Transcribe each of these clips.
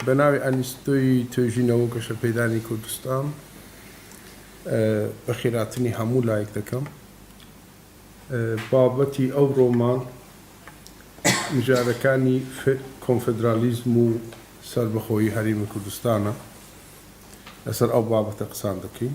بە ناوی ئەنیستۆی توێژینەوە و گەشەپێدانی کوردستان بە خێراتنی هەموو لایەک دەکەم بابەتی ئەو ڕۆمان مژارەکانی کۆنفدرالیزم و سربەخۆیی هەرێمی کوردستانە لەسەر ئەو بابەتە قسان دەکەین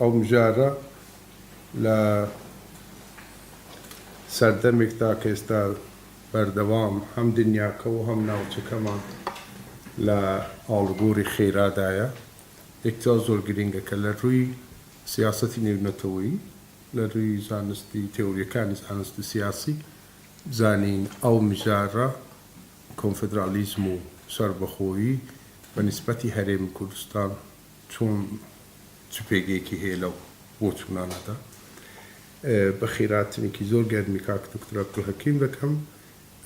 ئەومجارە لە سەردەمێکدا کە ئێستا بەردەوام هەم دنیاکە و هەم ناوچەکەمان لە ئاڵوگۆری خێرادایە، یەکجار زۆر گرینگە کە لە رووی سیاسەتی نێونەتەوەیی، لە رووی زانستی تێۆرییەکانی زانست و سیاسی بزانین ئەو مژارە کۆنفدراڵیزم و سەربەخۆیی بە نیسبەتی هەرێمی کوردستان چۆن چ پێگەیەکی هەیە لەو بۆچوونانەدا؟ بە خێراتنێکی زۆر گەرمی کاک دوکتور عەبدولهەکیم دەکەم،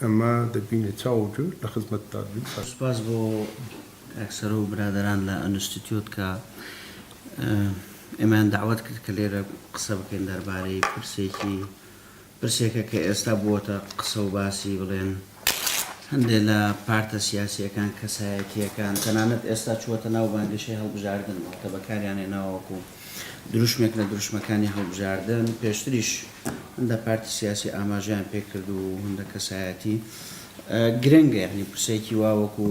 ئەمە دەبینێ چاو و گوێ لە خزمەتتان بین. سوپاس بۆ کاک سەرۆ و برادەران لە ئەنستیتیۆت کە ئێمەیان دەعوەت کرد کە لێرە قسە بکەین دەربارەی پرسێکی. پرسێکە کە ئێستا بووەتە قسە و باسی بڵێن هەندێ لە پارتە سیاسییەکان، کەسایەتییەکان، تەنانەت ئێستا چووەتە ناو بانگەشەی هەڵبژاردن، واتە بەکاریان هێناوە وەکو دروشمێک لە دروشمەکانی هەڵبژاردن، پێشتریش هەندە پارتی سیاسی ئاماژەیان پێ کرد و هەندە کەسایەتی، گرنگە یانی پرسێکی وا وەکو،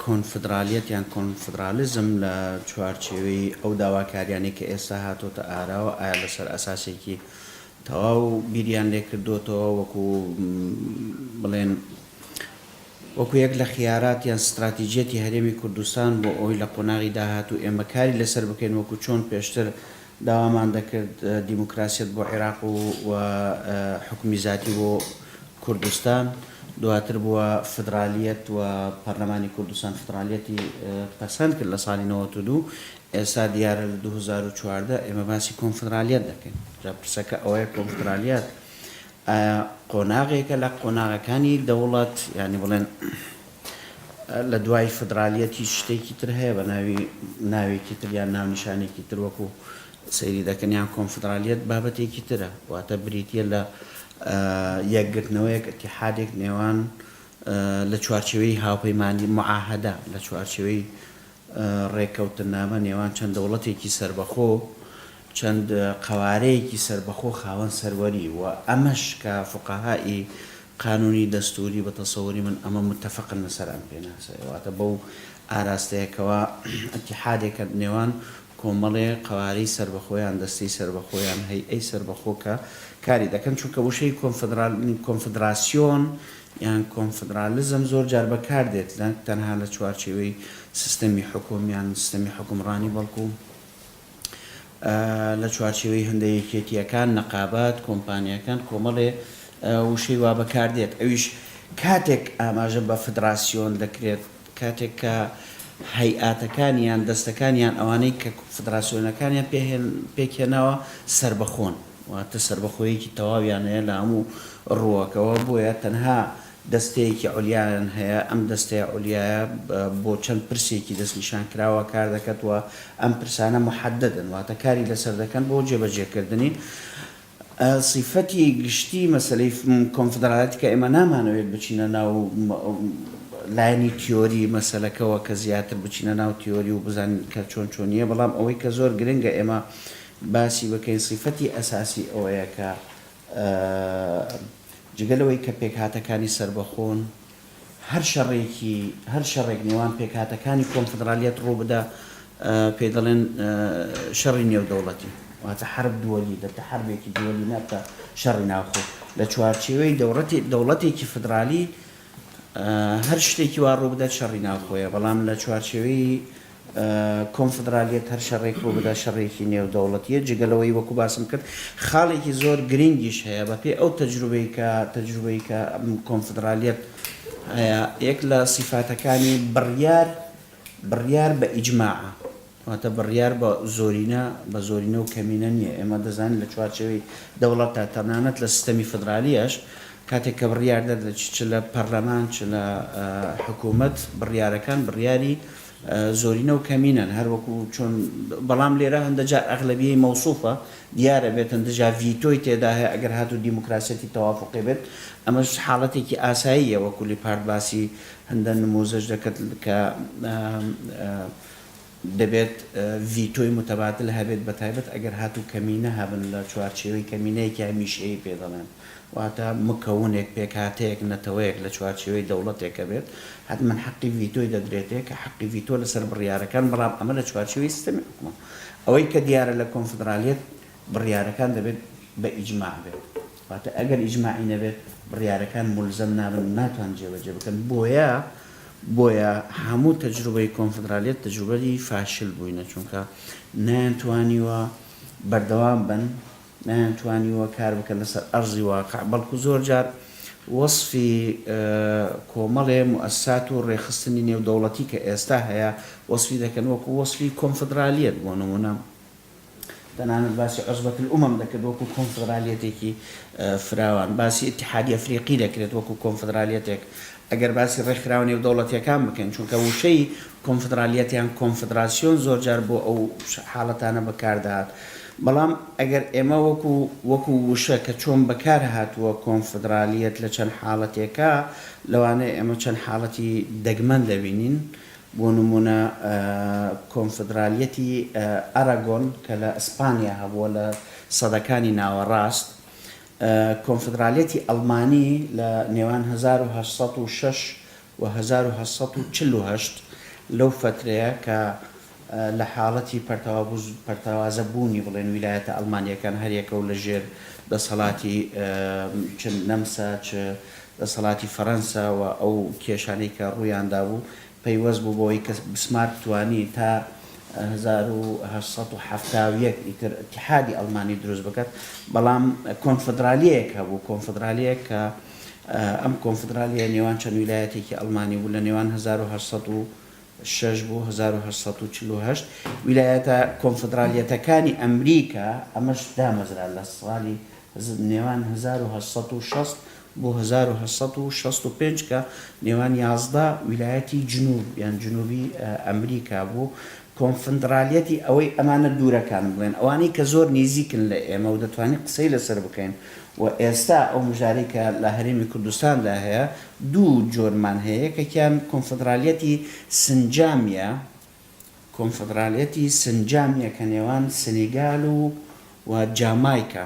کۆنفدرالیەت یان کۆنفدرالیزم لە چوارچێوەی ئەو داواکاریانەی کە ئێستا هاتۆتە ئاراوە ئایا لەسەر ئەساسێکی تەواو بیریان لێکردۆتەوە وەکو بڵێن وەکو یەک لە خیارات یان ستراتیجیەتی هەرێمی کوردستان بۆ ئەوی لە قۆناغی داهاتوو ئێمە کاری لەسەر بکەین وەکو چۆن پێشتر داوامان دەکرد دیموکراسیەت بۆ عیراق و و حوکمی زاتی بۆ کوردستان، دواتر بووە فدرالیەت و پەرلەمانی کوردستان فدرالیەتی پەسەند کرد لە ساڵی نەوەت و دوو، ئێستا دیارە لە دوو هەزار و چواردە ئێمە باسی کۆنفدرالیەت دەکەین، جا پرسەکە ئەوەیە کۆنفدرالیەت ئایا قۆناغێکە لە قۆناغەکانی دەوڵەت یانی بڵێن، لە دوای فدرالیەت هیچ شتێکی تر هەیە بە ناوی ناوێکی تر یان ناونیشانێکی تر وەکو سەیری دەکەن یان کۆنفدرالیەت بابەتێکی ترە واتە بریتیە لە یەکگرتنەوەیەک اتحادێک نێوان لە چوارچێوەی هاوپەیمانی معاهدە لە چوارچێوەی ڕێککەوتنامە نێوان چەند دەوڵەتێکی سەربەخۆ چەند قەوارەیەکی سەربەخۆ خاوەن سەروەری و ئەمەش کە فوقەها ی قانونی دەستوری بە تەسەوری من ئەمە متفقن لەسەر ئەم پێناسەیە واتە بەو ئاراستەیە کەوا ئەتیحادێکە نێوان کۆمەڵێ قەوارەی سەربەخۆ یان دەستەی سەربەخۆ یان هەیئەی سەربەخۆ کە کاری دەکەن چونکە وشەی کۆنفدرال کۆنفدراسیۆن یان کۆنفدرالیزم زۆر جار بەکار دێت نەک تەنها لە چوارچێوەی سیستەمی حکوم یان سیستەمی حکومڕانی بەڵکو لە چوارچێوەی هەندە یەکێتییەکان، نقابات، کۆمپانیاکان، کۆمەڵێ وشەی وا بەکار دێت. ئەویش کاتێک ئاماژە بە فدراسیۆن دەکرێت، کاتێک کە هەیئاتەکان یان دەستەکان یان ئەوانەی کە فدراسیۆنەکانیان پێک هێناوە سەربەخۆن، واتە سەربەخۆییەکی تەواویان هەیە لە هەموو ڕووەکەوە، بۆیە تەنها دەستەیەکی عولیایان هەیە، ئەم دەستەیە عولیایە بۆ چەند پرسێکی دەستنیشانکراوە کار دەکەت و ئەم پرسانە محددن، واتە کاری لەسەر دەکەن بۆ جێبەجێکردنی. سیفەتی گشتی مەسەلەی کۆنفدڕاڵیەتی کە ئێمە نامانەوێت بچینە ناو لایەنی تیۆری مەسەلەکەوە کە زیاتر بچینە ناو تیۆری و بزانین کە چۆن چۆنییە، بەڵام ئەوەی کە زۆر گرنگە ئێمە باسی بکەین سیفەتی ئەساسی ئەوەیە کە جگە لەوەی کە پێکهاتەکانی سەربەخۆن، هەر شەڕێکی، هەر شەڕێک نێوان پێکهاتەکانی کۆنفدرالیەت ڕووبدا، پێی دەڵێن شەڕی نێودەوڵەتی، واتە حرب دولی، دەبتە حربێکی دولی، نابتە شەڕی ناوخۆ. لە چوارچێوەی دەوڵەتی، دەوڵەتێکی فدرالی، هەر شتێکی وا ڕووبدات شەڕی ناوخۆیە، بەڵام لە چوارچێوەی کۆنفدرالیەت هەر شەڕێک ڕوو بدات شەڕێکی نێودەوڵەتیە، جگە لەوەی وەکو باسم کرد خاڵێکی زۆر گرینگیش هەیە بە پێی ئەو تەجروبەی کە تەجروبەی کە کۆنفدرالیەت هەیە یەک لە سیفاتەکانی بڕیار بڕیار بە ئیجماعە واتە بڕیار بە زۆرینە بە زۆرینە و کەمینە نیە ئێمە دەزانین لە چوارچێوەی دەوڵەتدا تەنانەت لە سیستەمی فدرالیەش کاتێک کە بڕیار دەردەچ چ لە پەرلەمان چ لە حکومەت بڕیارەکان بڕیاری زۆرینە و کەمینەن هەر وەکو چۆن بەڵام لێرە هەندە جار ئەغلەبیەی مەوسوفە دیارە بێت هەندە جار ڤیتۆی تێدا هەیە ئەگەر هاتوو دیموکراسیەتی تەوافقی بێت ئەمەش حاڵەتێکی ئاساییە وەکو لیپارد باسی هەندە نموزەش دەکەت کە دەبێت ڤیتۆی متەباتل هەبێت بەتایبەت ئەگەر هاتوو کەمینە هەبن لە چوارچێوەی کەمینەیەکی هەمیشەیی پێ دەڵێن. واتە مکونێک، پێکهاتەیەک، نەتەوەیەک لە چوارچێوەی دەوڵەتێکە بێت، حەتمەن حەقی ڤیتۆی دەدرێتێ کە حەقی ڤیتۆ لەسەر بڕیارەکان، بەڵام ئەمە لە چوارچێوەی سیستەمی حکومە. ئەوەی کە دیارە لە کۆنفدرالیەت بڕیارەکان دەبێت بە ئیجماع بێت. واتە ئەگەر ئیجماعی نەبێت بڕیارەکان مولزەم نابن و ناتوان جێبەجێ بکەن. بۆیە بۆیە هەموو تەجروبەی کۆنفدرالیەت تەجروبەی فاشل بووینە چونکە نەیانتوانیوە بەردەوام بن. نەیانتوانیوە کار بکەن لەسەر ئەرزی واقع، بەڵکو زۆر جار وەسفی کۆمەڵێ موئەسسات و ڕێکخستنی نێودەوڵەتی کە ئێستا هەیە وەسفی دەکەن وەکو وەسفی کۆنفدرالیەت بۆ نموونە تەنانەت باسی عوسبەت الامم دەکرد وەکو کۆنفدرالیەتێکی فراوان، باسی ئیتحادی ئەفریقی دەکرێت وەکو کۆنفدرالیەتێک ئەگەر باسی ڕێکخراوە نێودەوڵەتییەکان بکەین، چونکە وشەی کۆنفدڕالیەت یان کۆنفدڕاسیۆن زۆرجار بۆ ئەو حاڵەتانە بەکار دەهات، بەڵام ئەگەر ئێمە وەکو وەکو وشە کە چۆن بەکار هاتووە کۆنفدڕالیەت لە چەند حاڵەتێکە، لەوانەیە ئێمە چەند حاڵەتی دەگمەن دەبینین، بۆ نموونە کۆنفدڕالیەتی ئەراگۆن کە لە ئیسپانیا هەبووە لە سەدەکانی ناوەڕاست، کۆنفدرالیەتی ئەڵمانی لە نێوان هەزار و هەشت سەد و شەش و هەزار و هەشت سەد و چل و هەشت لەو فەترەیە کە لە حاڵەتی پەرتەوازە بوونی بڵێن ویلایەتە ئەڵمانیەکان هەر یەکە و لە ژێر دەسەڵاتی چ نەمسا چ دەسەڵاتی فەرەنسا و ئەو کێشانەی کە ڕوویان دابوو پەیوەست بوو بەوەی کە بسمارک توانی تا هەزار و هەشت سەد و حەفتا و یەک ئیتر ئیتیحادی ئەڵمانی دروست بکات، بەڵام کۆنفدرالیەیەک هەبوو، کۆنفدرالیەیەک کە ئەم کۆنفدرالیە نێوان چەند ویلایەتێکی ئەڵمانی بوو لە نێوان هەزار و هەشت سەد و شەش بۆ هەزار و هەشت سەد و چل و هەشت ویلایەتە کۆنفدرالیەتەکانی ئەمریکا ئەمەش دامەزرا لە ساڵی نێوان هەزار و هەشت سەد و شەست بۆ هەزار و هەشت سەد و شەست و پێنج کە نێوان یازدە ویلایەتی جنوب یان جنوبی ئەمریکا بوو، کۆنفندرالیەتی ئەوەی ئەمانە دوورەکان بڵێن، ئەوانەی کە زۆر نیزیکن لە ئێمە و دەتوانین قسەی لەسەر بکەین و ئێستا ئەو مژارەی کە لە هەرێمی کوردستاندا هەیە دوو جۆرمان هەیە یەکێکیان کۆنفدرالیەتی سنجامیە، کۆنفدرالیەتی سنجامیە کە نێوان سنیگال و و جامایکا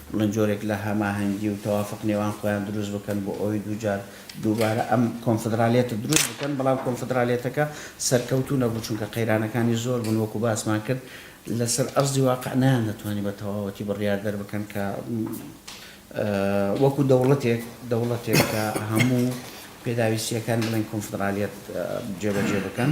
من جۆرێک لە هەماهەنگی و تەوافق نێوان خۆیان دروست بکەن بۆ ئەوەی دووجار دووبارە ئەم کۆنفدرالیەتە دروست بکەن، بەڵام کۆنفدرالیەتەکە سەرکەوتوو نەبوو، چونکە قەیرانەکانی زۆر بوون، وەکو باسمان کرد لەسەر ئەرزی واقع نەیاندەتوانی بە تەواوەتی بڕیار دەربکەن کە وەکو دەوڵەتێک دەوڵەتێک کە هەموو پێداویستیەکانی بڵێن کۆنفدرالیەت جێبەجێ بکەن.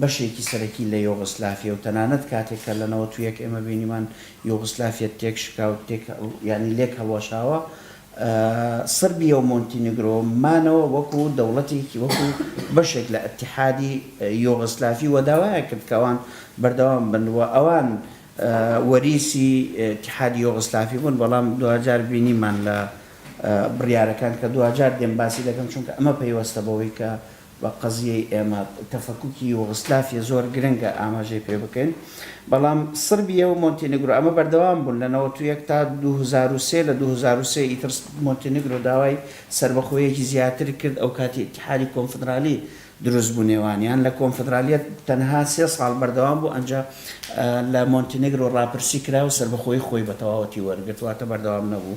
بەشێکی سەرەکی لە یۆغسلافیە و تەنانەت کاتێک کە لە نەوەت و یەک ئێمە بینیمان یۆغسلافیە تێک شکا و تێک یانی لێک هەڵوەشاوە سربیە و مۆنتینگرۆ مانەوە وەکو دەوڵەتێکی وەکو بەشێک لە ئەتحادی یۆغسلافی و داوایە کرد کەوان بەردەوام بن و ئەوان وەریسی تحادی یۆغسلافی بوون بەڵام دواجار بینیمان لە بڕیارەکان کە دواجار دێم باسی دەکەم چونکە ئەمە پەیوەستە بەوەی کە بە قەزیەی ئێمە تەفەکوکی یوغسلافیە زۆر گرنگە ئاماژەی پێ بکەین بەڵام سڕبیە و مۆنتینگرۆ ئەمە بەردەوام بوون لە نەوەت و یەک تا دوو هەزار و سێ لە دوو هەزار و سێ ئیتر مۆنتینگرۆ داوای سەربەخۆیەکی زیاتر کرد ئەو کاتی ئیتیحادی کۆنفدرالی دروست بوو نێوانیان لە کۆنفدرالیە تەنها سێ ساڵ بەردەوام بوو ئەنجا لە مۆنتینگرۆ ڕاپرسی کرا و سەربەخۆی خۆی بە تەواوەتی وەرگرت واتە بەردەوام نەبوو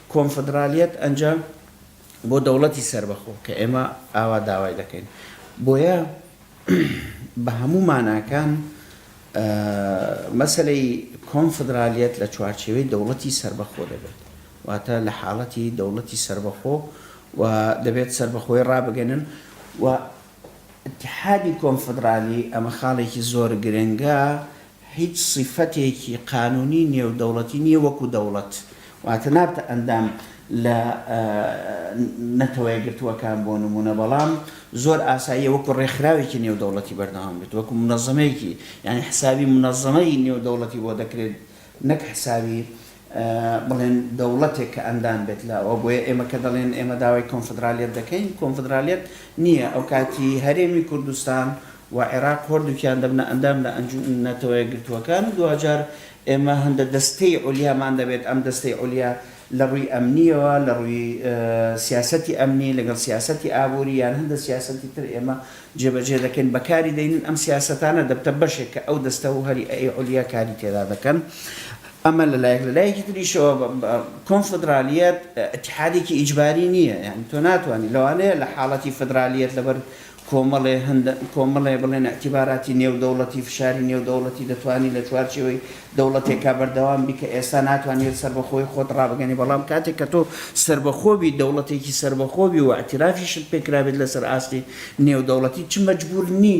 کۆنفدرالیەت ئەنجا بۆ دەوڵەتی سەربەخۆ کە ئێمە ئاوا داوای دەکەین. بۆیە بە هەموو ماناکان مەسەلەی کۆنفدرالیەت لە چوارچێوەی دەوڵەتی سەربەخۆ دەبێت. واتە لە حاڵەتی دەوڵەتی سەربەخۆ و دەبێت سەربەخۆی ڕابگەنن و ئیتحادی کۆنفدرالی ئەمە خاڵێکی زۆر گرنگە هیچ سیفەتێکی قانونی نێودەوڵەتی نیە وەکو دەوڵەت واتە نابتە ئەندام لە نەتەوەیەکگرتووەکان بۆ نمونە بەڵام زۆر ئاساییە وەکو ڕێکخراوێکی نێودەوڵەتی بەردەوام بێت وەکو منەزەمەیەکی یانی حسابی منەزەمەی نێودەوڵەتی بۆ دەکرێت نەک حسابی بڵێن دەوڵەتێک کە ئەندام بێت لە ئەوە بۆیە ئێمە کە دەڵێن ئێمە داوای کۆنفدرالیەت دەکەین کۆنفدرالیەت نییە ئەوکاتی هەرێمی کوردستان و عێراق هۆردوکیان دەبنە ئەندام لە ئەنجو نەتەوەیەکگرتووەکان و دواجار ئێمە هەندە دەستەی عولیامان دەبێت ئەم دەستەی عولیا لە ڕووی ئەمنیەوە لە ڕووی سیاسەتی ئەمنی لەگەڵ سیاسەتی ئابووری یان هەندە سیاسەتی تر ئێمە جێبەجێ دەکەین بەکاری دەینن ئەم سیاسەتانە دەبتە بەشێک کە ئەو دەستە و هەریی عولیا کاری تێدا دەکەن ئەمە لە لایەک، لە لایەکی تریشەوە کۆنفدرالیەت ئیتحادێکی ئیجباری نییە، یانی تۆ ناتوانی، لەوانەیە لە حاڵەتی فدرالیەت لەبەر کۆمەڵێ هەند کۆمەڵێ بڵێن ئیعتیباراتی نێودەوڵەتی فشاری نێودەوڵەتی دەتوانی لە چوارچێوەی دەوڵەتێکا بەردەوام بی کە ئێستا ناتوانیت سەربەخۆی خۆت ڕابگەنی بەڵام کاتێک کە تۆ سەربەخۆ بی دەوڵەتێکی سەربەخۆ بی و ئیعتیرافیشت پێ کرابێت لەسەر ئاستی نێودەوڵەتی چ مەجبور نی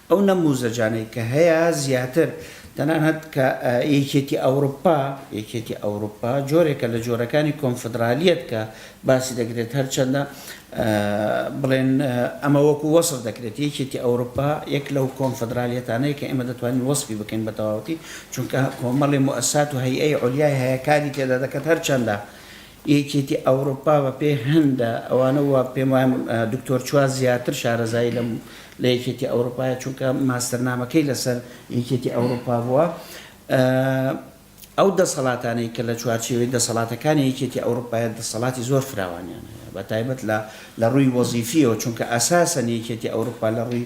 ئەو نەموزەجانەی کە هەیە زیاتر تەنانەت کە یەکێتی ئەوروپا یەکێتی ئەوروپا جۆرێکە لە جۆرەکانی کۆنفدرالیەت کە باسی دەکرێت هەرچەندە بڵێن ئەمە وەکو وەسف دەکرێت یەکێتی ئەوروپا یەک لەو کۆنفدرالیەتانەیە کە ئێمە دەتوانین وەسفی بکەین بە تەواوەتی چونکە کۆمەڵی موئەسسات و هەیئەی عولیای هەیە کاری تێدا دەکات هەرچەندە یەکێتی ئەوڕوپا بە پێی هەندە ئەوانە وە پێم وایە دکتۆر چوا زیاتر شارەزایی لە لە یەکێتی ئەوڕوپایە چونکە ماستەرنامەکەی لە سەر یەکێتی ئەوڕوپا بووە ئەو دەسەڵاتانەی کە لە چوارچێوەی دەسەڵاتەکانی یەکێتی ئەوڕوپایە دەسەڵاتی زۆر فراوانیان هەیە بە تایبەت لە لە ڕووی وەزیفیەوە چونکە ئەساسەن یەکێتی ئەوڕوپا لە ڕووی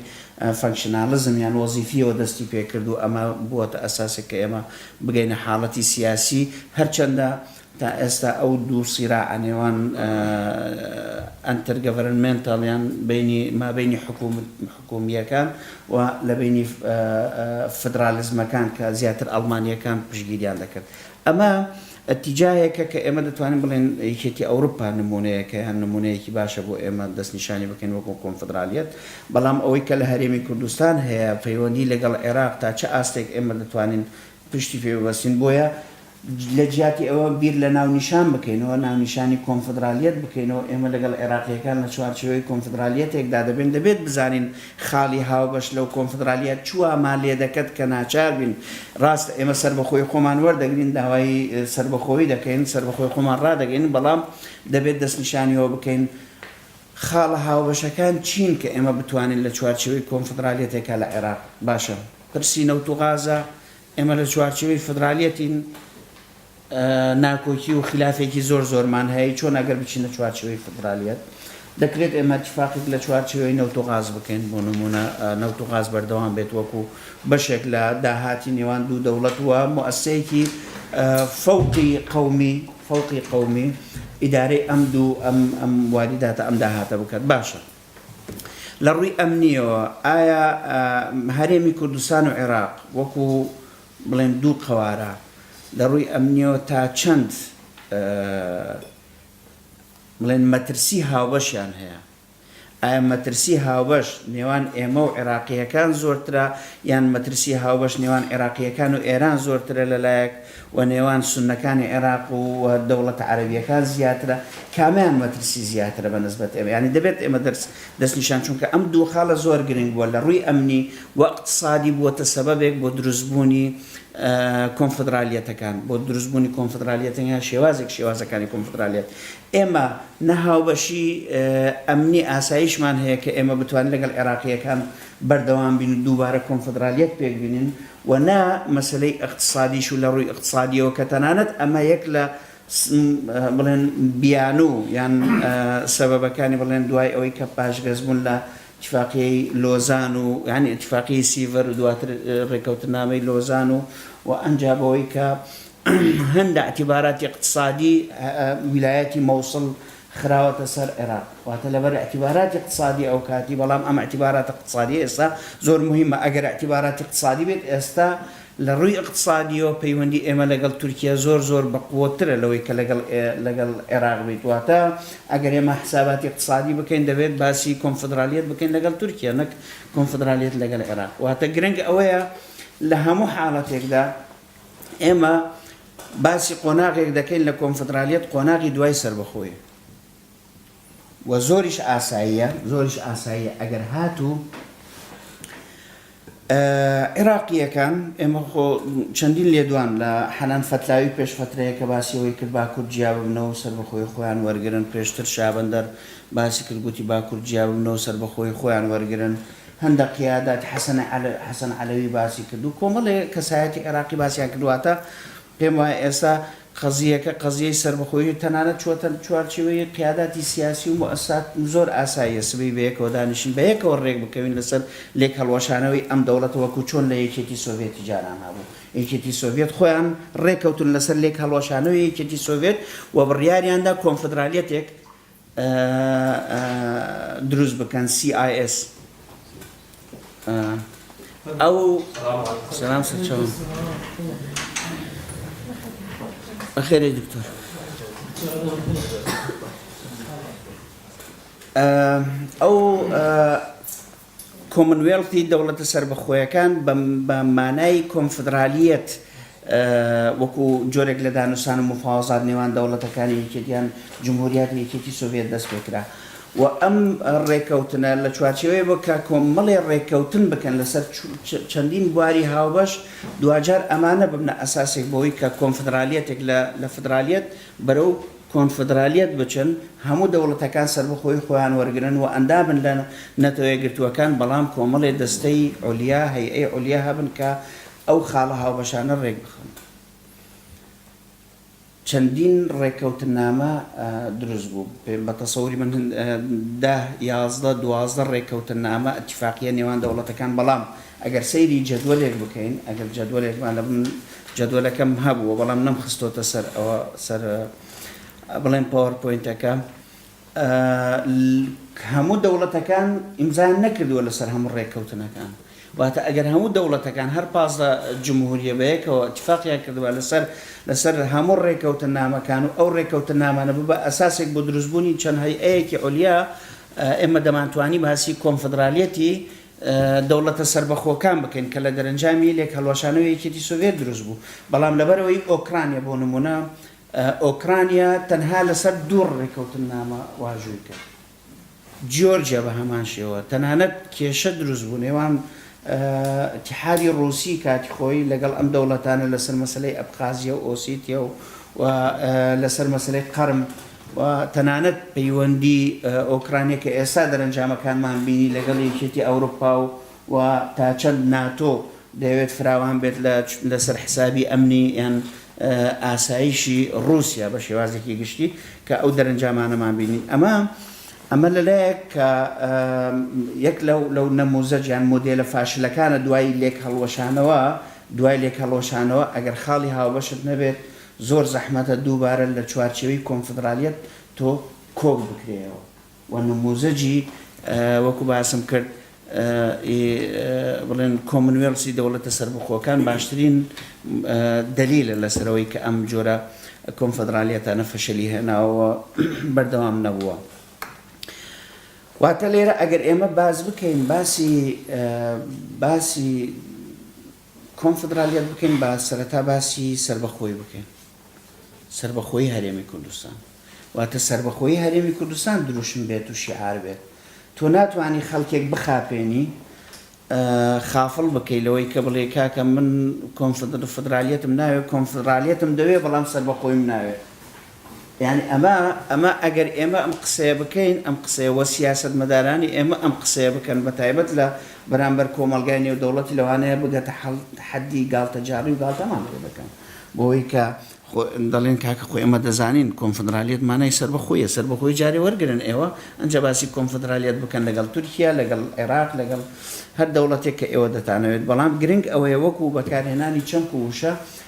فەنکشناڵزم یان وەزیفیەوە دەستی پێ کرد و ئەمە بووەتە ئەساسێک کە ئێمە بگەینە حاڵەتی سیاسی هەرچەندە تا ئێستا ئەو دوو سیراعە نێوان ئەنترگەڤەرنمێنتاڵ یان بەینی مابەینی حکوومییەکان و لە بەینی فدرالیزمەکان کە زیاتر ئەڵمانییەکان پشتگیریان دەکرد ئەمە ئەتیجایەکە کە ئێمە دەتوانین بڵێن یەکێتی ئەوروپا نموونەیەکە یان نموونەیەکی باشە بۆ ئێمە دەستنیشانی بکەین وەکو کۆنفدرالیەت بەڵام ئەوەی کە لە هەرێمی کوردستان هەیە پەیوەندی لەگەڵ عێراق تا چ ئاستێک ئێمە دەتوانین پشتی پێ ببەستین بۆیە لە جیاتی ئەوە بیر لە ناونیشان بکەینەوە، ناونیشانی کۆنفدرالیەت بکەینەوە، ئێمە لەگەڵ عێراقییەکان لە چوارچێوەی کۆنفدرالیەتێکدا دەبین، دەبێت بزانین خاڵی هاوبەش لەو کۆنفدرالیە چ وامان لێ دەکەت کە ناچار بین، ڕاستە ئێمە سەربەخۆیی خۆمان وەردەگرین، داوای سەربەخۆیی دەکەین، سەربەخۆیی خۆمان ڕادەگەین، بەڵام دەبێت دەستنیشانی ئەوە بکەین خاڵە هاوبەشەکان چین کە ئێمە بتوانین لە چوارچێوەی کۆنفدرالیەتێکا لە عێراق، باشە پرسی نەوت و غازە، ئێمە لە چوارچێوەی فیدرالیەتین ناکۆکی و خیلافێکی زۆر زۆرمان هەیە چۆن ئەگەر بچینە چوارچێوەی فیدرالیەت دەکرێت ئێمە تفاقیک لە چوارچێوەی نەوت و غاز بکەین بۆ نمونە نەوت و غاز بەردەوام بێت وەکو بەشێک لە داهاتی نێوان دوو دەوڵەت و موسسەیەکی فەوقی قەومی فەوقی قەومی ئیدارەی ئەم دوو ئەم ئەم واریداتە ئەم داهاتە بکات باشە لە ڕووی ئەمنییەوە ئایا هەرێمی کوردستان و عێراق وەکو بڵێن دوو قەوارە لە ڕووی ئەمنییەوە تا چەند بڵێن مەترسی هاوبەشیان هەیە؟ ئایا مەترسی هاوبەش نێوان ئێمە و عێراقییەکان زۆرترە یان مەترسی هاوبەش نێوان عێراقییەکان و ئێران زۆرترە لە لایەک و نێوان سونەکانی عێراق و دەوڵەتە عەرەبیەکان زیاترە کامیان مەترسی زیاترە بە نسبەت ئێمە یانی دەبێت ئێمە دەرس دەست نیشان چونکە ئەم دوو خاڵە زۆر گرنگ بووە لە ڕووی ئەمنی و اقتصادی بووەتە سەبەبێک بۆ دروست بوونی کۆنفدرالیەتەکان بۆ دروست بوونی کۆنفدرالیەتەنگە شێوازێک شێوازەکانی کۆنفدرالیەت ئێمە نەهاوبەشی ئەمنی ئاساییشمان هەیە کە ئێمە بتوانین لەگەڵ عێراقیەکان بەردەوام بین و دووبارە کۆنفدرالیەت پێک بینن و نا مەسەلەی ئیقتسادیش و لە ڕووی ئیقتسادیەوە کە تەنانەت ئەمە یەک لە بڵێن بیانوو یان سەبەبەکانی بڵێن دوای ئەوەی کە پاشگەز بوون لە ئیتفاقیەی لۆزان و یان ئیتفاقیەی سیڤەر و دواتر ڕێکەوتنامەی لۆزان و و ئەنجا بەوەی کە هەندە ئەتیباراتی ئیقتسادی ویلایەتی مەوسڵ خراوەتە سەر عێراق واتە لەبەر اعتباراتی اقتصادی ئەوکاتی بەڵام ئەم اعتباراتە اقتصادیە ئێستا زۆر موهیمە ئەگەر اعتباراتی اقتصادی بێت ئێستا لەڕووی اقتصادیەوە پەیوەندی ئێمە لەگەڵ تورکیا زۆر زۆر بەقوەترە لەوەی کە لەگەڵ لەگەڵ عێراق بیت واتە ئەگەر ئێمە حساباتی اقتصادی بکەین دەبێت باسی کۆنفدرالیەت بکەین لەگەڵ تورکیا نەک کۆنفدرالیەت لەگەڵ عێراق واتە گرنگ ئەوەیە لە هەموو حاڵەتێکدا ئێمە باسی قۆناغێک دەکەین لە کۆنفدرالیەت قۆناغی دوای سەربەخۆیە و زۆریش ئاساییە زۆریش ئاساییە ئەگەر هاتوو عێراقیەکان ئێمە خۆ چەندین لێدوان لە حەنان فەتلاوی پێش فترەیە کە باسیەوەی کرد باکوور جیاببنەوە سەر بەخۆی خۆیان وەرگن پێشتر شابندەر باسی کردگوتی باکوور جیاببنەوە سەر بەخۆی خۆیان وەرگن هەندە قیادات حەسەن حەسەن عەلەوی باسی کرد و کۆمەڵێ کەسایەتی عێراقی باسیان کرد واتە پێم وایە ئێستا قەزییەکە قەزییەی سەربەخۆیی تەنانەت چووەتە چوارچێوەی قیاداتی سیاسی و موئەسسات زۆر ئاساییە سبەی بەیەکەوە دانیشن بەیەکەوە رێک بکەوین لەسەر لێکهەڵوەشانەوەی ئەم دەوڵەتە وەکو چۆن لە یەکێتی سۆڤێتی جاران هەبوو یەکێتی سۆڤێت خۆیان رێکەوتن لەسەر لێکهەڵوەشانەوەی یەکێتی سۆڤێت و بڕیاریاندا کۆنفدرالیەتێک دروست بکەن CIS ئەو سلام سەرچەون بەخێری دکتۆر ئەو کۆمنوێڵتی دەوڵەتە سەربەخۆیەکان بە مانای کۆنفدرالییەت وەکو جۆرێک لە دانوستان و مفاوەزات نێوان دەوڵەتەکانی یەکێتی یان جمهوریاتی یەکێتی سۆڤیەت دەست پێ کرا و ئەم ڕێکەوتنە لە چوارچێوەیە بۆ کە کۆمەڵێ ڕێکەوتن بکەن لەسەر چەندین بواری هاوبەش دواجار ئەمانە ببنە ئەساسێک بۆی کە کۆنفدرالیەتێک لە فدرالیەت بەرەو کۆنفدرالیەت بچن، هەموو دەوڵەتەکان سەربەخۆیی خۆیان وەرگرن و ئەندامن لە نەتەوە یەکگرتووەکان، بەڵام کۆمەڵێ دەستەی علیا، هەیئەی علیا، هەبن کە ئەو خاڵە هاوبەشانە ڕێکبخەن. چەندین ڕێککەوتننامە دروست بوو. بە تەسەوری من دە، یازدە، دوازدە ڕێککەوتننامە، اتفاقیە، نێوان دەوڵەتەکان، بەڵام ئەگەر سەیری جەدوەلێک بکەین، ئەگەر جەدوەلێکمان لە بن، جەدوەلەکەم هەبووە بەڵام نەم خستۆتە سەر ئەوە سەر بڵێم پاوەر پۆینتەکە هەموو دەوڵەتەکان ئیمزان نەکردووە لەسەر هەموو ڕێککەوتنەکان واتە ئەگەر هەموو دەوڵەتەکان هەر پازدە جمهوریە بەیەکەوە اتفاقیان کردووە لەسەر لەسەر هەموو ڕێککەوتن نامەکان و ئەو ڕێککەوتن نامانە ببە ئەساسێک بۆ دروستبوونی چەند هەیئەیەکی ئۆلیا ئێمە دەمانتوانی باسی کۆنفدرالیەتی دەوڵەتە سەربەخۆکان بکەین کە لە دەرەنجامی لێک هەڵوەشانەوەی یەکێتی سۆڤیەت دروست بوو بەڵام لەبەرئەوەی ئۆکرانیا بۆ نموونە ئۆکرانیا تەنها لەسەر دوو ڕێکەوتننامە واژووی کرد جیۆرجیا بە هەمان شێوە تەنانەت کێشە دروست بوو نێوان اتحادی ڕووسی کاتی خۆی لەگەڵ ئەم دەوڵەتانە لەسەر مەسلەی ئەبخازیە و ئۆسیتیە و لەسەر مەسلەی قەرم و تەنانەت پەیوەندی ئۆکرانیا کە ئێستا دەرەنجامەکانمان بینی لەگەڵ یەکێتی ئەوروپا و و تا چەند ناتۆ دەیەوێت فراوان بێت لە لەسەر حسابی ئەمنی یان ئاسایشی ڕوسیا بە شێوازێکی گشتی کە ئەو دەرەنجامانەمان بینین ئەمە ئەمە لەلایەک کە یەک لەو لەو نەموزەج یان مۆدێلە فاشلەکانە دوای لێک هەڵوەشانەوە دوای لێک هەڵوەشانەوە ئەگەر خاڵی هاوبەشت نەبێت زۆر زەحمەتە دووبارە لە چوارچێوەی کۆنفدڕالیەت تۆ کۆک بکرێیەوە و نمووزەجی وەکوو باسم کرد ئی بڵێن کۆمنوێڵسی دەوڵەتە سەربەخۆکان باشترین دەلیلە لەسەر ئەوەی کە ئەم جۆرە کۆنفدڕالیەتانە فەشەلی هێناوە و بەردەوام نەبووە. واتە لێرە ئەگەر ئێمە باس بکەین باسی باسی کۆنفدرالیەت بکەین با سەرەتا باسی سەربەخۆیی بکەین سەربەخۆیی هەرێمی کوردستان واتە سەربەخۆیی هەرێمی کوردستان دروشم بێت و شیعار بێت تۆ ناتوانی خەڵکێک بخاپێنی خافڵ بکەی لەوەی کە بڵێ کاکە من کۆنفدرالیەتم ناوێت کۆنفدرالیەتم دەوێت بەڵام سەربەخۆیم ناوێت یانی ئەمە ئەمە ئەگەر ئێمە ئەم قسەیە بکەین ئەم قسەیە وە سیاسەتمەدارانی ئێمە ئەم قسەیە بکەن بە تایبەت لە بەرامبەر کۆمەڵگای نێودەوڵەتی لەوانەیە بگەتە حەددی گاڵتەجاڕی و گاڵتەمان پێ دەکەن بۆوەی کە خۆ دەڵێن کاکە خۆ ئێمە دەزانین کۆنفدرالیەت مانای سەربەخۆیە سەربەخۆی جارێ وەرگرن ئێوە ئەنجا باسی کۆنفدرالیەت بکەن لەگەڵ تورکیا لەگەڵ عێراق لەگەڵ هەر دەوڵەتێک کە ئێوە دەتانەوێت بەڵام گرنگ ئەوەیە وەکو بەکارهێنانی چەمک و وشە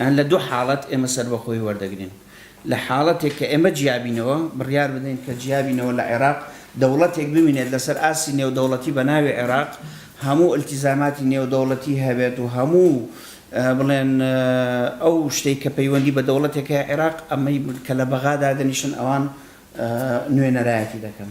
یان لە دوو حاڵەت ئێمە سەربەخۆیی وەردەگرین، لە حاڵەتێک کە ئێمە جیابینەوە، بڕیار بدەین کە جیابینەوە لە عێراق، دەوڵەتێک بمینێت لەسەر ئاستی نێودەوڵەتی بە ناوی عێراق هەموو ئیلتیزاماتی نێودەوڵەتی هەبێت و هەموو بڵێن ئەو شتەی کە پەیوەندی بە دەوڵەتێک هەیە عێراق ئەمەی کە لە بەغا دادەنیشن ئەوان نوێنەرایەتی دەکەن.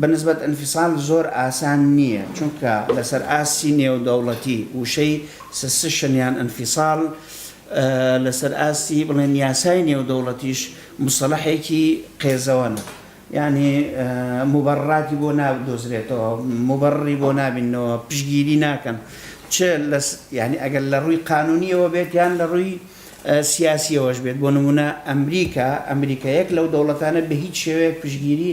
بە نسبەت انفصال زۆر ئاسان نییە، چونکە لەسەر ئاستی نێودەوڵەتی وشەی سسشن یان انفصال لەسەر ئاستی بڵێن یاسای نێودەوڵەتیش موسەڵەحێکی قێزەوەنە، یانی موبەڕڕاتی بۆ نادۆزرێتەوە، موبەڕڕی بۆ نابیننەوە، پشتگیری ناکەن، چ لە یانی ئەگەر لە ڕووی قانوونییەوە بێت یان لە ڕووی سیاسییەوەش بێت، بۆ نموونە ئەمریکا، ئەمریکا یەک لەو دەوڵەتانە بە هیچ شێوەیەک پشتگیری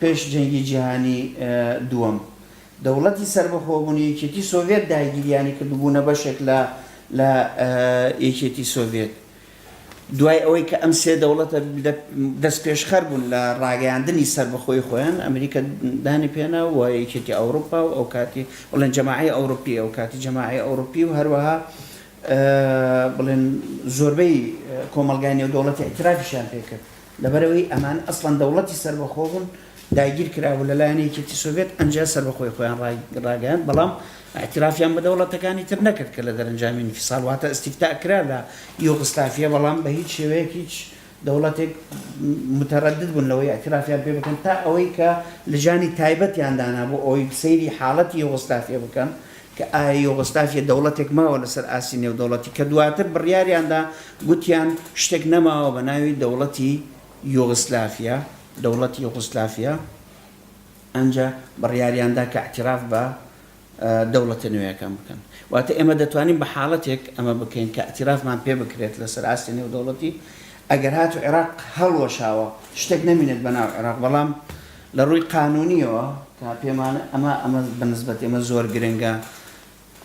پێش جەنگی جیهانی دووەم، دەوڵەتی سەربەخۆبوونی یەکێتی سۆڤێت داگیریانی کرد و بوونە بەشێک لە لە یەکێتی سۆڤێت. دوای ئەوەی کە ئەم سێ دەوڵەتە دەستپێشخەر بوون لە ڕاگەیاندنی سەربەخۆی خۆیان، ئەمریکا دانی پێنا و یەکێتی ئەوروپا و ئەوکاتی بڵێن جەماعەی ئەوروپی ئەوکاتی جەماعەی ئەوروپی و هەروەها بڵێن زۆربەی کۆمەڵگای نێودەوڵەتی ئیترافیشیان پێ کرد. لەبەرئەوەی ئەمان ئەسڵەن دەوڵەتی سەربەخۆ بوون، داگیر کرابوو لەلایەن یەکێتی سۆڤێت، ئەنجا سەربەخۆی خۆیان ڕاگەیاند، بەڵام ئیعتیرافیان بە دەوڵەتەکانی تر نەکرد کە لە دەرەنجامی ئینفیسال واتە ئیستیفتاء کرا لە یوغسلافیە، بەڵام بە هیچ شێوەیەک هیچ دەوڵەتێک متەرەدد بوون لەوەی ئیعتیرافیان پێ بکەن تا ئەوەی کە لجانی تایبەتیان دانا بۆ ئەوەی سەیری حاڵەتی یوغسلافیە بکەن کە ئایا یۆغۆسلاڤیە دەوڵەتێک ماوە لەسەر ئاستی نێودەوڵەتی، کە دواتر بڕیاریاندا گوتیان شتێک نەماوە بە ناوی دەوڵەتی یۆغسلافیا، دەوڵەتی یۆغۆسلافیا، ئەنجا بڕیاریاندا کە ئیعتیراف بە دەوڵەتە نوێیەکان بکەن. واتە ئێمە دەتوانین بە حاڵەتێک ئەمە بکەین کە ئیعتیرافمان پێ بکرێت لەسەر ئاستی نێودەوڵەتی، ئەگەر هاتوو عێراق هەڵوەشاوە شتێک نەمینێت بە ناو عێراق، بەڵام لە ڕووی قانوونییەوە کە پێمان ئەمە ئەمە بە نسبەت ئێمە زۆر گرنگە،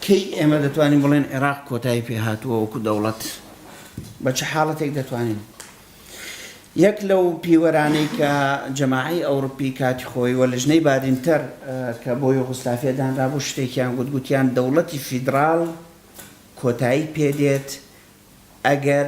کەی ئێمە دەتوانین بڵێن عێراق کۆتایی پێ هاتووە وەکوو دەوڵەت؟ بە چ حاڵەتێک دەتوانین؟ یەک لەو پیوەرانەی کە جەماعەی ئەوڕوپی کاتی خۆی و لژنەی بادینتەر کە بۆ یۆغۆسلافیا دانرابوو شتێکیان گوت، گوتیان دەوڵەتی فیدراڵ کۆتایی پێ دێت ئەگەر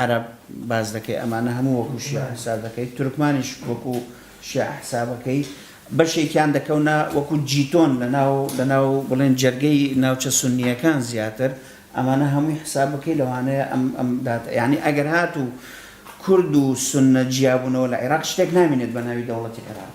عەرەب باس دەکەی ئەمانە هەموو وەکو شیعە حساب دەکەی تورکمانیش وەکو شیعە حسابەکەی بەشێکیان دەکەونە وەکو جیتۆن لەناو لەناو بڵێن جەرگەی ناوچە سنیەکان زیاتر ئەمانە هەمووی حساب بکەی لەوانەیە ئەم ئەم دات یعنی ئەگەر هات و کورد و سنە جیابوونەوە لە عێراق شتێک نامێنێت بە ناوی دەوڵەتی عێراق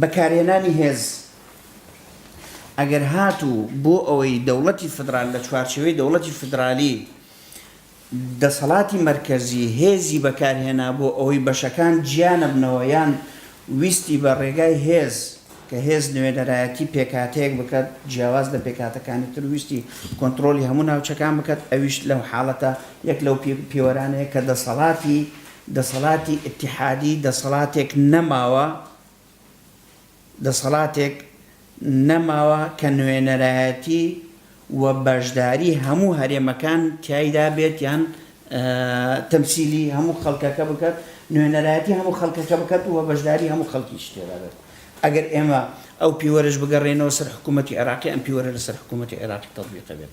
بەکارهێنانی هێز ئەگەر هاتوو بۆ ئەوەی دەوڵەتی فدرال لە چوارچێوەی دەوڵەتی فدرالی دەسەڵاتی مەرکەزی هێزی بەکارهێنا بۆ ئەوەی بەشەکان جیانەبنەوە یان ویستی بە ڕێگای هێز کە هێز نوێنەرایەتی پێکاتەیەک بکات جیاواز لە پێکاتەکانی تر ویستی کۆنتترۆلی هەموو ناوچەکان بکات ئەویش لەو حاڵەتە یەک لەو پێوەرانەیە کە دەسەڵاتی دەسەڵاتی ئیتیحادی دەسەڵاتێک نەماوە دەسەڵاتێک نەماوە کە نوێنەرایەتی و بەشداری هەموو هەرێمەکان تیایدا بێت یان تەمسیلی هەموو خەڵکەکە بکات نوێنەرایەتی هەموو خەڵکەکە بکات و بەشداری هەموو خەڵکیش تێدا بێت ئەگەر ئێمە ئەو پیوەرەش بگەڕێنەوە سەر حکوومەتی عێراقی ئەم پیوەرە لەسەر حکوومەتی عێراقی تەتبیقە بێت.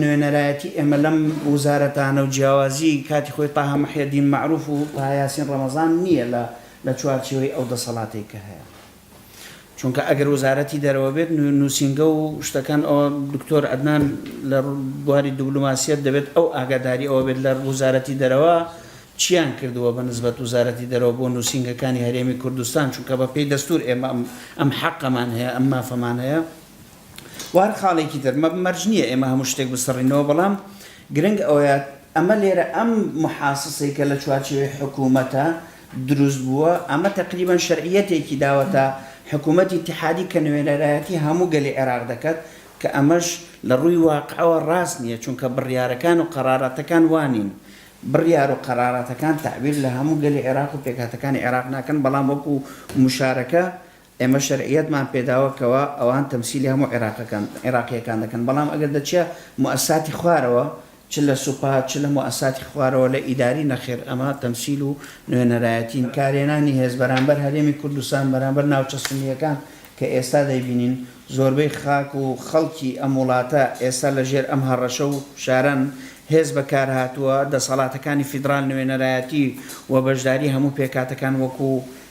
نوێنەرایەتی ئێمە لەم وزارەتانە و جیاوازی کاتی خۆی تاها محێدین مەعروف و تاها یاسین ڕەمەزان نییە لە لە چوارچێوەی ئەو دەسەڵاتەی کە هەیە چونکە ئەگەر وزارەتی دەرەوە بێت نووسینگە و شتەکان ئەوە دکتۆر عەدنان لە بواری دوبلوماسیەت دەبێت ئەو ئاگاداری ئەوە بێت لە وزارەتی دەرەوە چیان کردووە بە نسبەت وزارەتی دەرەوە بۆ نووسینگەکانی هەرێمی کوردستان چونکە بە پێی دەستور ئێمە ئەم حەقەمان هەیە ئەم مافەمان هەیە و هەر خاڵێکی تر، مە مەرج نییە ئێمە هەموو شتێک بسڕینەوە، بەڵام گرنگ ئەوەیە ئەمە لێرە ئەم محاسسەی کە لە چوارچێوەی حکوومەتە دروست بووە، ئەمە تەقریبەن شەرعییەتێکی داوەتە حکوومەتی ئیتیحادی کە نوێنەرایەتی هەموو گەلی عێراق دەکات، کە ئەمەش لە ڕووی واقعەوە ڕاست نییە، چونکە بڕیارەکان و قەراراتەکان وا نین. بڕیار و قەراراتەکان تەعبیر لە هەموو گەلی عێراق و پێکهاتەکانی عێراق ناکەن، بەڵام وەکوو موشارەکە، ئێمە شەرعیەتمان پێداوە کەوا ئەوان تەمسیلی هەموو عێراقەکان عێراقییەکان دەکەن، بەڵام ئەگەر دەچیە موئەسساتی خوارەوە چ لە سوپا چ لە موئەسساتی خوارەوە لە ئیداری نەخێر ئەمە تەمسیل و نوێنەرایەتین. کارهێنانی هێز بەرامبەر هەرێمی کوردستان بەرامبەر ناوچە سونییەکان کە ئێستا دەیبینین زۆربەی خاک و خەڵکی ئەم وڵاتە ئێستا لە ژێر ئەم هەڕەشە و فشارەن هێز بەکار هاتووە دەسەڵاتەکانی فیدڕال نوێنەرایەتی و بەشداری هەموو پێکهاتەکان وەکوو